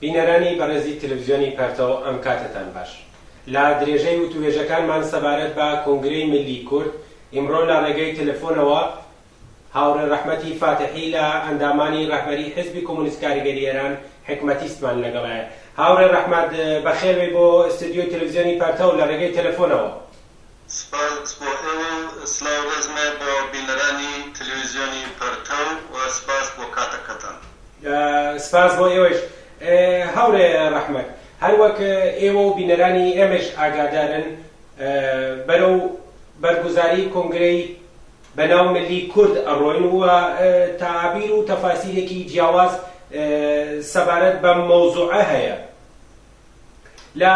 بینەرانی بەڕێزی تلفزیۆنی پەرتەو ئەم کاتەتان باش. لە درێژەی وتووێژەکانمان سەبارەت بە کۆنگرەی ملی کورد، ئیمڕۆ لە ڕێگەی تلفۆنەوە هاوڕێ ڕەحمەتی فاتحی لە ئەندامانی ڕەهبەری حیزبی کۆمۆنیست کاریگەری ئێران حیکمەتیستمان لەگەڵایە. هاوڕێ ڕەحمەت بەخێربێی بۆ ئیستدیۆی تلفزیۆنی پەرتەو لە ڕێگەی تلفۆنەوە. سپاس بۆ ئێوە و سڵاو ڕێزمێ بۆ بینەرانی تەلەویزیۆنی پەرتەو و سپاس بۆ کاتەکەتان. سپاس بۆ ئێوەش هاوڕێ ڕەحمەت. هەر وەک ئێوە و بینەرانی ئێمەش ئاگادارن بەرەو بەرگوزاری کۆنگرەی بە ناو ملی کورد ئەڕۆین و تەعابیر و تەفاسیرێکی جیاواز سەبارەت بەم مەوزوعە هەیە. لە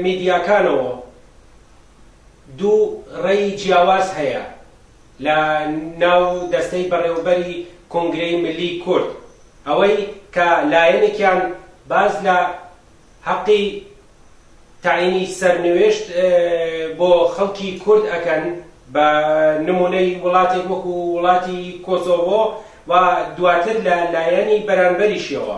میدیاکانەوە دوو ڕێی جیاواز هەیە لە ناو دەستەی بەڕێوەبەری کۆنگرەی ملی کورد، ئەوەی کە لایەنێکیان باس لە هەقی تەعینی سەرنوێشت بۆ خەڵکی کورد ئەکەن بە نمونەی وڵاتێک وەکو وڵاتی کۆسۆڤۆ و دواتر لە لایەنی بەرانبەریشیەوە،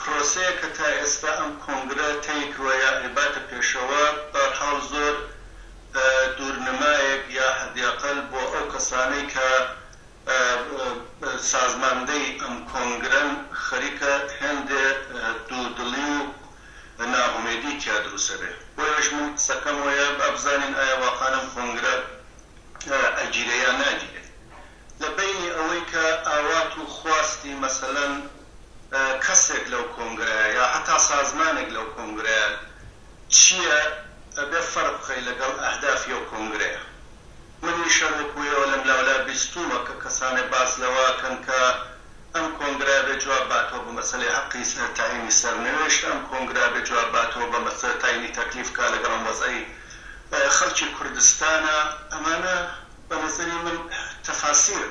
پرۆسەیە کە تا ئێستا ئەم کۆنگرە تەی کروە یا ئەیباتە پێشەوە، بەرحاڵ زۆر دوور نمایەک یا حەدیەقەل بۆ ئەو کەسانەی کە سازماندەی ئەم کۆنگرەن خەریکە هێندێ دوو دڵی و ناهومێدی تیا دروسە بێ. بۆیەش من قسەکەم وەیە با بزانین ئایا واقان ئەم کۆنگرە ئەگیرێ یا ناگیرێ. لە بەینی ئەوەی کە ئاوات و خواستی مەسەلەن کەسێک لەو کۆنگرەیە یا هەتا سازمانێک لەو کۆنگرەیە چییە ئەبێ فەرق بخەی لەگەڵ ئەهدافی ئەو کۆنگرەیە. منیش هەر وەکوو ئێوە لەم لاو لا بیستوومە کە کەسانێ باس لەوە ئەکەن کە ئەم کۆنگرە ئەبێ جواب باتەوە بە مەسەلەی هەقی تەعینی سەرنوێشت، ئەم کۆنگرە ئەبێ جواب باتەوە بە مەسەلەی تەعینی تەکلیف کە لەگەڵ ئەم وەزعەی خەڵکی کوردستانە. ئەمانە بە نەزەری من تەفاسیر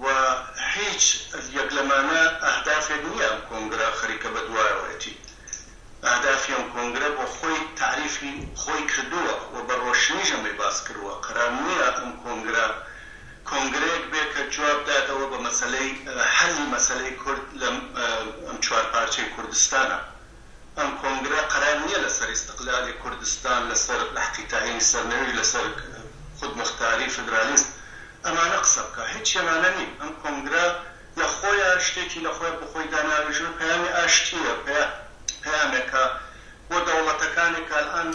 و هیچ یەک لەمانە ئەهدافێک نیە ئەم کۆنگرە خەریکە بە دوایەوەیەتی ئەهدافی ئەم کۆنگرە بۆ خۆی تەعریفی خۆی کردووە و بە ڕۆشنیش ئەمەی باس کرووە قەرار نیە ئەم کۆنگرە کۆنگرەیەک بێ کە جواب داتەوە بە مەسەلەی حەلی مەسەلەی کورد لەم ئەم چوار پارچەی کوردستانە ئەم کۆنگرە قەرار نیە لەسەر ئیستقلالی کوردستان، لەسەر لەحقی تەعینی سەرنەوی، لەسەر خودمختاری، فیدرالیزم ئەمانە قسە بکا. هیچی ئەمانە نین. ئەم کۆنگرە لە خۆیا شتێکی لە خۆیا بۆ خۆی داناوێژوە پەیامی ئاشتیە، پەیامێکە بۆ دەوڵەتەکانێک کە ئەلئان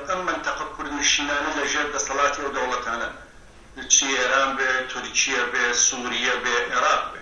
ئەم مەنتەقە کوردنشینانە لە ژێر دەسەڵاتی ئەو دەوڵەتانەن چی ئێران بێ، تورکیە بێ، سوریە بێ، ئێراق بێ.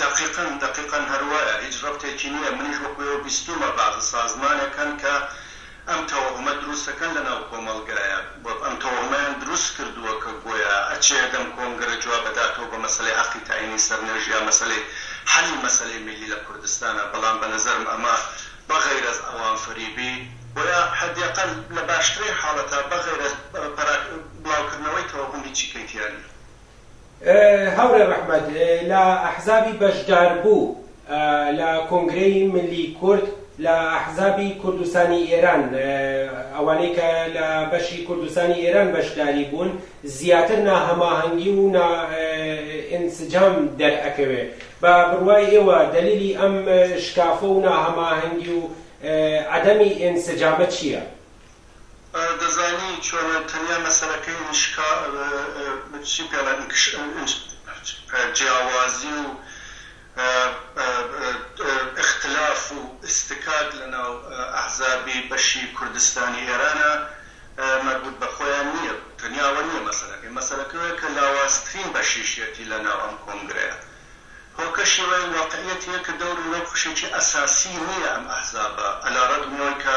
دەقیقەن دەقیقەن هەروایە هیچ رەبتێکی نیە منیش وەکو ئێوە بیستومە بەعزە سازمانێک هەن کە ئەم تەوەهمە دروستەکەن لەناو کۆمەلگایە و ئەم تەوەهمەیان دروست کردوە کە گۆیا ئەچێ دەم کۆنگرە جواب ئەداتەوە بە مەسەلەی هەقی تەعینی سەر نوێژ یا مەسەلەی حەلی مەسەلەی میلی لە کوردستانا بەڵام بە نەزەرم ئەمە بە غەیرەز ئەوان فریبی بۆیا حەدی ئەقەل لە باشترین حالەتا بە غەیرەز پەراک بلاو کردنەوەی تەوەهم هیچی کەیتیا نیە. هەورێ رەحمەت لە ئەحزابی بەشداربوو لە کۆنگرەی ملی کورد لە ئەحزابی کوردستانی ئێران ئەوانەی کە لە بەشی کوردستانی ئێران بەشداری بوون زیاتر ناهەماهەنگی و نا ئینسجام دەرئەکەوێ بە بڕوای ئێوە دەلیلی ئەم شکافە و ناهەماهەنگی و عەدەمی ئینسجامە چییە؟ دەزانی چۆنە تەنیا مەسەلەکەی ئینشکا چی پێڵێن ئینکش جیاوازی و ئختلاف و ئستکاک لە ناو ئەحزابی بەشی کوردستانی ئێرانە مەربوت بە خۆیان نیە تەنیا ئەوە نیە مەسەلەکەی مەسەلەکەی ئەوەیە کە لاوازترین بەشیشیەتی لە ناو ئەم کۆنگرەیە هۆکەشی ئەوەیە واقعیەتی یە کە دەوری وەک خوشێکی ئەساسی نیە ئەم ئەحزابە ئەلا ڕەگمی ئەوەی کە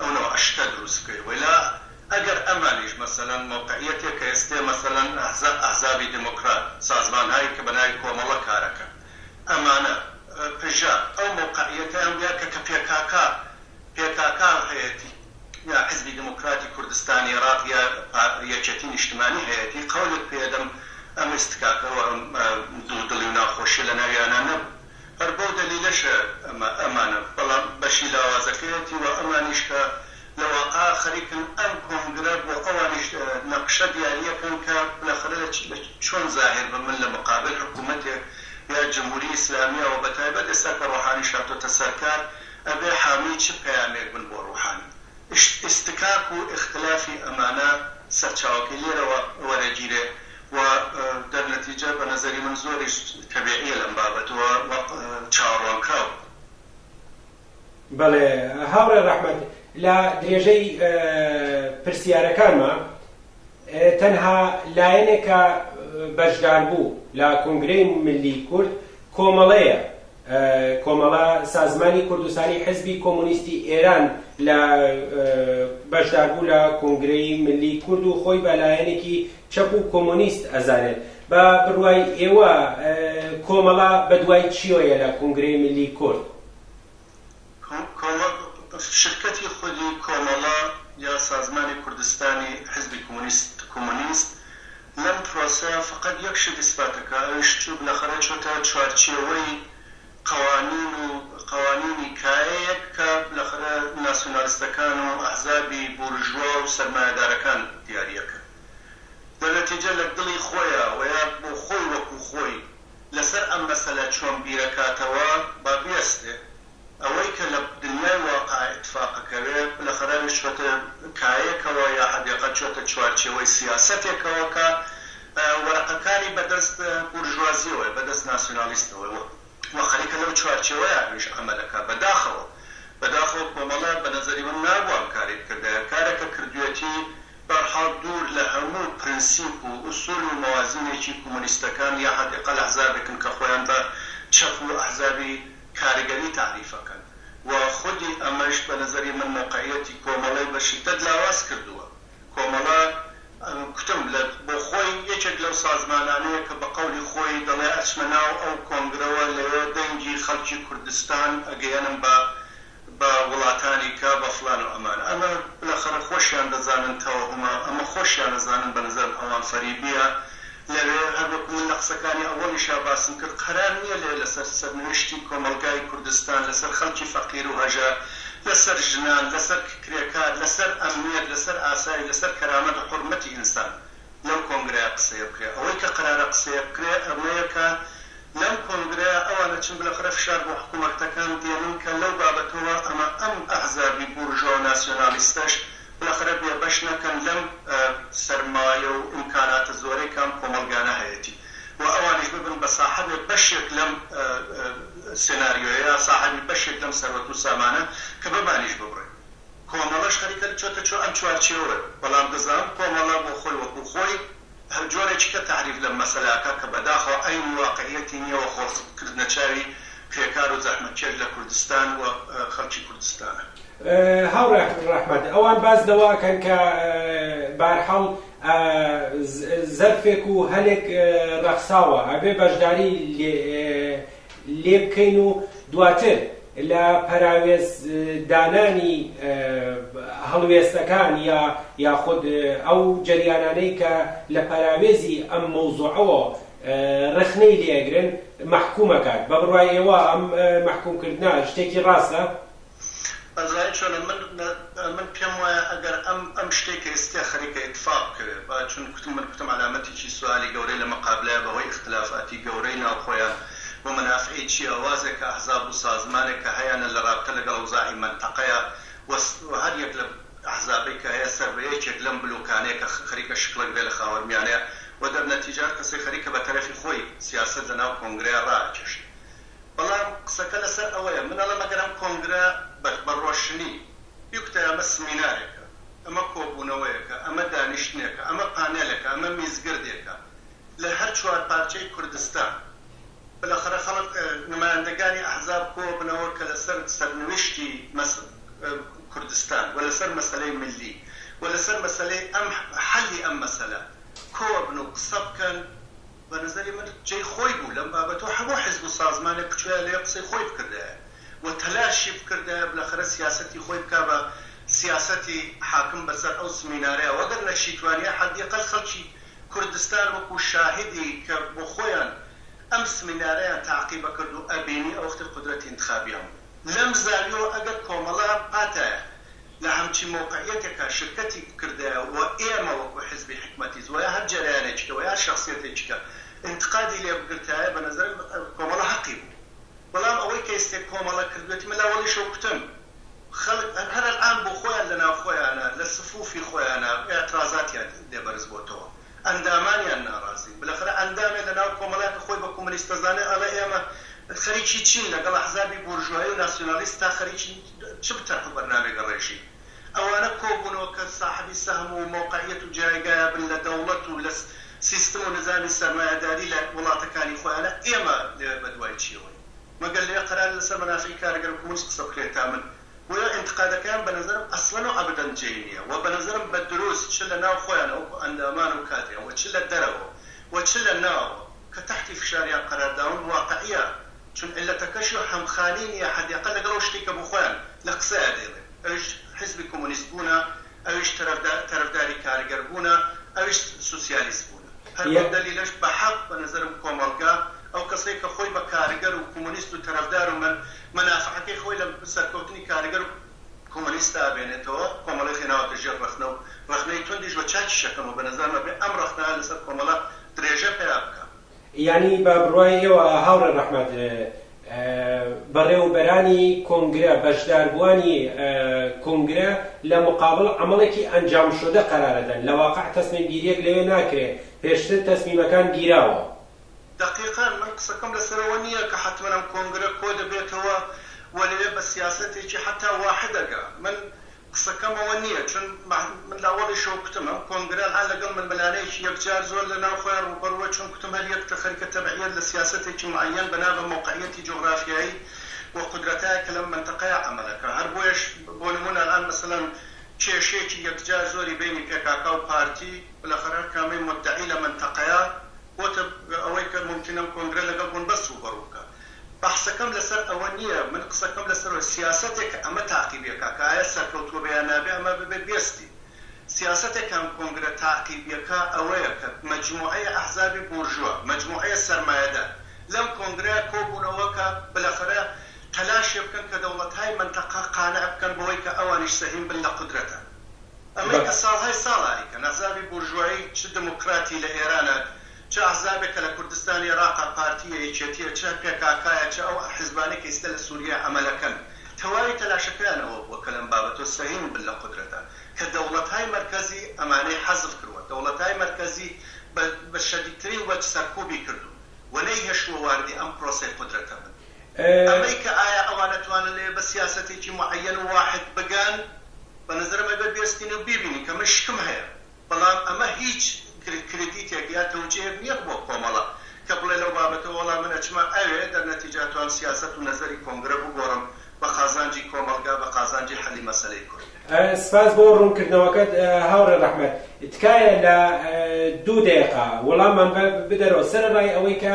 ئەو نەوعە شتە دروست بکەی وەیلا ئەگەر ئەمانیش مەسەلەن مەوقعیەتێک کە ئێستێ مەسەلەن ئەحزاب ئەحزابی دێمۆکڕات سازمانهایی کە بەناوی کۆمەڵە کارەکەن ئەمانە پژە ئەو مەوقعیەتەیان بیا کە کە پێکاکا پێکاکا هەیەتی یا حزبی دێمۆکڕاتی کوردستانی ئێڕاق یا پا یەکێتی نیشتمانی هەیەتی قەولت پێ دەم ئەم ئیستکاکە و ئەم دوو دڵی و ناخۆشیە لە ناویانا نەبوو. هەر بەو دەلیلەشە ئەمە ئەمانە، بەڵام بەشی لاوازەکەیەتی و ئەمانیش کە لە واقعا خەریکن ئەم کۆنگرە بۆ ئەوانیش نەقشە دیارییەکەن کە بالاخرە چۆن زاهر بە من لە مقابل حکوومەتێک یا جمهوری ئیسلامییە و بەتایبەت ئێستا کە ڕۆحانیش هاتۆتە سەر کار ئەبێ حامی چ پەیامێک بن بۆ ڕوحانی؟ ئیشتکاک و ئیختلافی ئەمانە سەرچاوەکەی لێرەوە وەرەگیرێ. وە دەر نەتیجە بە نەزەری من زۆریش تەبیعیە لەم بابەت وە وەق چاوەڕوانکراو. بەڵێ هاوڕێ ڕەحمەت لە درێژەی پرسیارەکانما تەنها لایەنێک کە بەشداربوو لە کۆنگرەی ملی کورد کۆمەڵەیە کۆمەڵە سازمانی کوردستانی حزبی کۆمۆنیستی ئێران لە بەشداربوو لە کۆنگرەی ملی کورد و خۆی بە لایەنێکی چەپ و کۆمۆنیست ئەزانێت. بە بڕوای ئێوە کۆمەڵە بە دوای چیۆیە لە کونگرەی ملی کورد؟ شرکەتی خودی کۆمەڵە یا سازمانی کوردستانی حیزبی کۆمۆنیست لەم پرۆسەیە فەقەت یەک شت ئیسباتەکا ئەویش چوو بلەخەرە چۆتە چوارچێوەی قەوانین و قەوانینی کایەیەک کە بالاخرە ناسیونالیستەکان و ئەحزابی بورژوا و سەرمایەدارەکان دیاری ئەکەن. دە نەتیجە لە دڵی خۆیا و یا بۆ خۆی وەکوو خۆی لە سەر ئەم مەسەلە چۆن بیر ئەکاتەوە با بیەستێ. ئەوەی کە لە دنیای واقع ئیتفاق ئەکەوێ بالاخرە چووەتە کایەیەکەوە یا حەدێقەت چووەتە چوارچێوەی سیاسەتێکەوە کە وەرەقەکانی بە دەست بورژوازیەوەیە، بە دەست ناسیونالیستەوەیە و خەریکە لەو چوارچێوەیە ئەویش عەمەل ئەکا. بەداخەوە، بەداخەوە کۆمەڵە بە نەزەری من نابوو ئەم کارەی بکردایە. کارە کە کردویەتی بەرحاڵ دوور لە هەموو پرنسیپ و ئوسول و مەوازینێکی کومونیستەکان یا حەد ئەقەل ئەحزابێکن کە خۆیان بە چەپ و ئەحزابی کارگەری تەعریف ئەکەن و خودی ئەمەش بە نەزەری من مەوقعیەتی کۆمەڵەی بە شدەت لاواز کردووە. کۆمەڵە کوتم لە بۆ خۆی یەکێک لەو سازمانانەیە کە بە قەولی خۆی دەڵێ ئەچمە ناو ئەو کۆنگرەوە لەوێ دەنگی خەڵکی کوردستان ئەگەیەنم بە بە وڵاتانی کە بە فڵان و ئەمان ئەمە بلەخەرە خۆشیان دەزانن تەوەهومە ئەمە خۆشیان ئەزانن بە نەزەرم ئەوان فەریبیە لەوێ هەر وەکو من لە قسەکانی ئەوەڵیشا باسم کرد قەرار نیە لێ لەسەر سەرنوشتی کۆمەڵگای کوردستان لەسەر خەڵکی فەقیرو هەژار لەسەر ژنان لەسەر کرێکار لەسەر ئەمنیەت لەسەر ئاسایش لەسەر کەرامەت و حورمەتی ئینسان لەو کۆنگرەیا قسەیە بکرێ ئەوەی کە قەرارە قسەیە بکرێ ئەمەیە کە لەم کۆنگرەیا ئەوان ئەچن بلەخرە فشار بۆ حکومەکتەکان دێنن کە لەو بابەتەوە ئەمە ئەم ئەحزابی بورژوا و ناسیۆنالیستەش باخەرە بێ بەش نەکەن لەم سەرمایە و ئیمکاناتە زۆرەی کە ئەم کۆمەڵگانە هەیەتی و ئەوانیش ببن بە ساحەبێ بەشێک لەم سێناریۆیە، ساحەبی بەشێک لەم سەروەت و سامانە کە بەمانیش ببڕێ. کۆمەڵەش خەریکە چۆتە چۆ ئەم چوارچێوەیە، بەڵام دەزانم کۆمەڵە بۆ خۆی وەکوو خۆی هەر جۆرێکیکە تەعریف لەم مەسەلاکە کە بەداخەوە عەینی واقعیەتی نیە وە خۆڵسک کردنە چاوی کرێکار و زەحمەتکێش لە کوردستان و خەڵکی کوردستانە. هاوڕێ ڕەحمەت ئەوان باس لەوە ئەکەن کە بارحاڵ زەرفێک و هەلێک ڕەخساوە ئەبێ بەشداری لێ لێبکەین و دواتر لە پەراوێز دانانی هەڵوێستەکان یا یاخود ئەو جەریانانەی کە لە پەراوێزی ئەم مەوزوعەوە ڕخنەی لێ ئەگرن مەحکووم ئەکات. بە بڕوای ئێوە ئەم مەحکووم کردنە شتێکی ڕاستە؟ ئەزانی چۆنە من من پێم وایە ئەگەر ئەم ئەم شتەی کە ئێستیا خەریکە ئیتفاق بکەوێ با چون کوتم من کوتم عەلامەتێکی سوالی گەورەی لە مەقابلایە بە هۆی ئیختلافاتی گەورەی ناو خۆیان و مەنافعی چیاوازێک کە ئەحزاب و سازمانێک کە هەیانە لە رابتە لەگەڵ ئەوزاعی مەنتەقەیا و و هەر یەک لە ئەحزابەی کە هەیە سەر بە یەکێک لەم بلۆکانەیە کە خەریکە شکڵک بێ لە خاوەرمیانەیا و دەرنەتیجە هەر کەسێک خەریکە بە تەرەفی خۆی سیاسەت لە ناو کۆنگرەیا رائەکێشێ بەڵام قسەکە لەسەر ئەوەیە، من ئەڵێم ئەگەر ئەم کۆنگرە بە بە ڕۆشنی بیکوتای ئەمە سمینارێکە، ئەمە کۆبوونەوەیەکە، ئەمە دانیشتنێکە، ئەمە پانێلەکە، ئەمە میزگردێکە لە هەر چوار پارچەی کوردستان، بەلاخەرە خەڵک نمایندەگانی ئەحزاب کۆبنەوە کە لەسەر سەرنوشتی مەس کوردستان و لەسەر مەسەلەی ملی و لەسەر مەسەلەی ئەم حەلی ئەم مەسەلە کۆبن و قسە بکەن، بە نەزەری من جێی خۆی بوو لەم بابەتەوە هەموو حیزب و سازمانێک بچوویایە لێ قسەی خۆی بکردایە و تەلاشی بکردایە بلەخەرە سیاسەتی خۆی بکا بە سیاسەتی حاکم بە سەر ئەو زمینارەیا و گەر نەشیتوانیە حەدیقەل خەلکی کوردستان وەکوو شاهدی کە بۆ خۆیان ئەم سمینارەیان تاقیبەکرد و ئەبینی ئەوەختی قودرەتی ئینتخابیان بوو. لەم زاویەوە ئەگەر کۆمەڵە پاتایە لە هەمچی مەوقعیەتێکا شرکەتی بکردایە و ئێمە وەکو حزبی حکومەتیش وەیا هەر جەرەیانێکیکە وەیا هەر شەخسیەتێکیکە ئینتقادی لێ بگرتایە بە نەزەرم کۆمەڵە هەقی بوو بەڵام ئەوەی کە ئیستێ کۆمەڵە کردوێتی من لاوەڵیشەوە کوتم خەڵک هەر ئەلئان بۆ خۆیان لە ناو خۆیانا لە سفوفی خۆیانا ئیعترازاتیان لێ بەرز بۆتەوە ئەندامانیان ناڕازین بلەخرە ئەندامێ لە ناو کۆمەڵەیە کە خۆی بە کومنیست دەزانێ ئەڵێ ئێمە خەریکی چین لەگەڵ ئەحزابی بۆرژوایی و ناسیونالیست تا خەریکی چ بتەرح و بەرنامێک ڕێژین ئەوانە کۆ بونەوە کە ساحبی سەهم و مەوقعیەت و جایگایە بن لە دەوڵەت و لە سیستم و نزامی سەرمایەداری لە وڵاتەکانی خۆیانە ئێمە لەوێ بە دوای چیەوەین مەگەر لەوێ قەرارە لەسەر مەنافعی کارگەر و کومنیست قسە بکرێ تا من بۆیە ئینتقادەکەیان بە نەزەرم ئەسڵەن و ئەبدەن جێی نییە و بە نەزەرم بە دروست چ لە ناو خۆیانەوە وەکو ئەندامان و کادریان و چ لە دەرەوە و چ لە ناوەوە کە تەحتی فشاریان قەرار داون واقعییە چون عیللەتەکەشی و هەمخانی نییە حەدی ئەقەل لەگەڵ ئەو شتەی کە بۆ خۆیان لە قسەیا دەیڵێن ئەویش حیزبی کۆمۆنیست بوونە ئەویش تەرەفداری کارگەر بوونە ئەویش سوسیالیست بوونە هەر بەم دەلیلەش بە حەق بە نەزەرم کۆمەڵگا ئەو کەسەی کە خۆی بە کارگەر و کومونیست و تەرەفدار و مەنافەعەکەی خۆی لە سەرکەوتنی کارگەر و کومونیستا بێنێتەوە کۆمەڵەخی ناوەتە ژێر ڕەخنە و ڕەخنەی توندیش بە چاکیش ئەکەم و بە نەزەرم ئەبێ ئەم ڕەخنانە لەسەر کۆمەڵە درێژە پەیا بکا. یانی بە بڕوای ئێوە هاوڕێ ڕەحمەت بەڕێوەبەرانی کۆنگرە، بەشداربووانی کۆنگرە لە مقابڵ عەمەڵێکی ئەنجامشودە قەرارە دەن، لە واقع تەسمیمگیرییەک لەوێ ناکرێ، پێشتر تەسمیمەکان گیراوە. دەقیقەن، من قسەکەم لەسەر ئەوە نییە کە حەتمەن ئەم کۆنگرە کۆدەبێتەوە و لەوێ بە سیاسەتێکی حەتا واحدەگە من، قسەکەم ئەوە نییە چون من لە ئەوەڵیشەوە کوتم ئەم کۆنگرە هەر لەگەڵ ململانێیەکی یەکجار زۆر لە ناو خۆیان ڕووبەڕووە چون کوتم هەر یەک تە خەریکە تەبعیەت لە سیاسەتێکی معەیەن بەنا بە مەوقعیەتی جوغرافیایی و قودرەتایەک کە لەم مەنتەقەیە عەمەل ئەکا هەر بۆیەش بۆ نموونە ئەلئان مەسەلەن کێشەیەکی یەکجار زۆری بەینی پێکاکا و پارتی بلەخەر هەر کامەی موددەعی لە مەنتەقەیە بۆتە ئەوەی کە مومکینە ئەم کۆنگرە لەگەڵ بنبەست ڕووبەڕوو بکا بەحسەکەم لەسەر ئەوە نییە، من قسەکەم لەسەر ئەوەیە سیاسەتێک کە ئەمە تاقیبی ئەکا کە ئایا سەرکەوتووە بێ یان نابێ ئەمە ببێ بێستی سیاسەتێک کە ئەم کۆنگرە تاقیبی ئەکا ئەوەیە کە مەجموعەی ئەحزابی بورژوا، مەجموعەی سەرمایەدار لەم کۆنگرەیا کۆبوونەوە کە بلەخەرە تەلاشێ بکەن کە دەوڵەتهای مەنتەقە قانع بکەن بەوەی کە ئەوانیش سەهیم بن لە قودرەتا. ئەمەی کە ساڵهای ساڵە ئەیکەن ئەحزابی بورژوایی چ دموکراتی لە ئێرانا، چ ئەحزابێک کە لە کوردستان ئێراقە، پارتییە، یەکێتییە، چ پێکاکایە، چ ئەو ئەحزبانەی کە ئیستە لە سووریە ئەمەلەکەن، تەواوی تەلاشەکەیان ئەوە بووە کە لەم بابەتەوە سەهیم بن لە قودرەتە کە دەوڵەتای مەرکەزی ئەمانەی حەزف کرووە، دەوڵەتای مەرکەزی بە بە شەدیدترین وەج سەرکووبی کردوون و نەیهێشتووە واردی ئەم پرۆسەی قودرەتە بن. ئەمەی کە ئایا ئەوان ئەتوانن لەوێ بە سیاسەتێکی موعەیەن و واحید بگەن، بە نەزەرم ئەبێ بێستین و بیبینین کە من شکم هەیە. بەڵام ئەمە هیچ کریدیتێک یا تەوجیهێک نیە بۆ کۆمەڵە کە بڵێ لەو بابەتەوە وەڵا من ئەچمە ئەوێ دەر نەتیجا توام سیاسەت و نەزەری کۆنگرە بگۆڕم بە قازانجی کۆمەڵگا بە قازانجی حەلی مەسەلەی کورد. سپاس بۆ ڕوونکردنەوەکەت هاوڕێ ڕەحمەت. تکایە لە دوو دەیەقە وڵاممان بدەرەوە سەرەڕای ئەوەی کە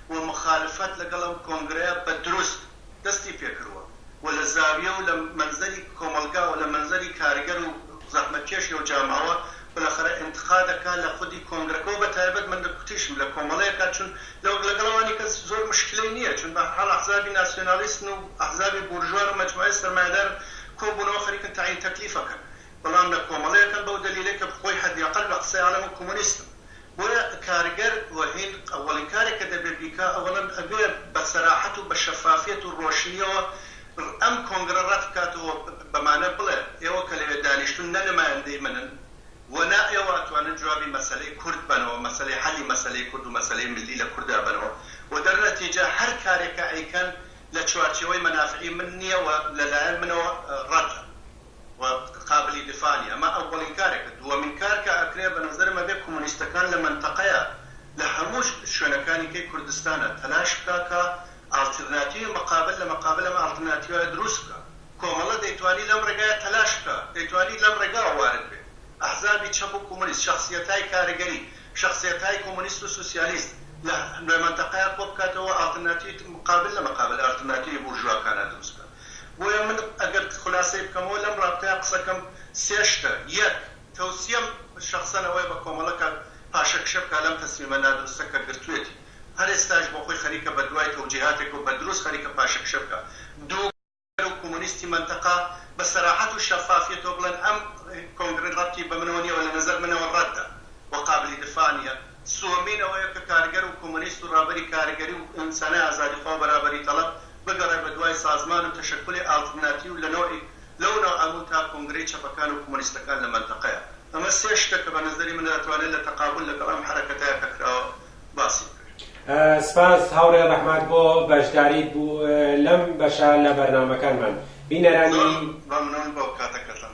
و موخالفەت لەگەڵ ئەم کۆنگرەیە بە دروست دەستی پێکردوە و لە زاویە و لە مەنزەری کۆمەڵگا و لە مەنزەری کارگەر و زەحمەتکێشی ئەو جامعەوە بەلەخەرە ئینتقادەکا لە خودی کۆنگرەکەوە بە تایبەت من لە کوتیشم لە کۆمەڵەیەکا چون لە وەک لەگەڵ ئەوانی کەس زۆر مشکلەی نیە چون بە هەرحاڵ ئەحزابی ناسیۆنالیستن و ئەحزابی بورژوان و مەجموعەی سەرمایەدارن کۆ بونەوە خەریکن تەعین تەکلیفەکەن بەڵام لە کۆمەڵەیەکەن بەو دەلیلەی کە خۆی حەدی ئەقەل لە قسەی عالەم و کۆمۆنیستم بۆیە کارگەر و هین ئەوەڵین کارێک کە دەبێ بیکا ئەوەڵەن ئەبێ بە سەراحەت و بە شەفافیەت و ڕۆشنیەوە ئەم کۆنگرە ڕەت بکات و بەمانە بڵێ ئێوە کە لەوێ دانیشتون نە نمایندەی منن و نا ئێوە ئەتوانن جوابی مەسەلەی کورد بەنەوە مەسەلەی حەلی مەسەلەی کورد و مەسەلەی ملی لە کوردا بەنەوە و دەرنەتیجە هەر کارێک کە ئەیکەن لە چوارچێوەی مەنافعی من نیە و لە لایەن منەوە ڕەتە. و قابلی دفاع نیە ئەمە ئەوەڵین کارێکە دوەمین کار کە ئەکرێ بە نەزەرم ئەبێ کومونیستەکان لە مەنتەقەیا لە هەموو شوێنەکانی کەی کوردستانا تەلاش بکا کە ئاڵترناتیوی مقابل لە مقابل ئەم ئاڵترناتیوایە دروست بکا کۆمەڵە دەیتوانی لەم ڕێگایە تەلاش بکا دەیتوانی لەم ڕێگاوە وارد بێ ئەحزابی چەپ و کومونیست شەخسیەتای کارگەری شەخسیەتای کومونیست و سوسیالیست لە مەنتەقەیا کۆ بکاتەوە ئاڵترناتیوی مقابل لە مقابل ئاڵترناتیوی بورژواکانا دروست بکا بۆیە من ئەگەر خولاسەی بکەمەوە لەم رابتەیا قسەکەم سێ شتە، یەک، تەوسیەم شەخسەن ئەوەیە بە کۆمەڵە کاک پاشە کشە بکا لەم تەسمیمە نادروستە کە گرتویەتی، هەر ئێستاش بۆ خۆی خەریکە بە دوای تەوجیهاتێک و بە دروست خەریکە پاشە کشە بکا. دوو، گەر و کومونیستی مەنتەقە بە سەراحەت و شەفافیەتەوە بڵێن ئەم کۆنگرە رەبتی بە منەوە نیە و لە نەزەر منەوە رەدە و قابلی دفاع نیە، سوەمین ئەوەیە کە کارگەر و کۆمۆنیست و ڕابەری کارگەری و ئینسانی ئازادیخوا و بەرابەری تەڵەب بگەڕێ بە دوای سازمان و تەشەکولی ئالترناتیو لە نەوعیک لەو ناو ئەموو تا کۆنگرەی چەپەکان و کۆمۆنیستەکان لە مەنتەقەیا. ئەمە سێ شتە کە بە نەزەری من ئەتوانێ لە تەقابول لەگەڵ ئەم حەرەکەتەیا کە کراوە باسی بکرێ. سپاس هاوڕێ ڕەحمەت بۆ بەشداریت بوو لەم بەشە لە بەرنامەکانمان. بینەرانی. زۆر مەمنون بۆ کاتەکەتان.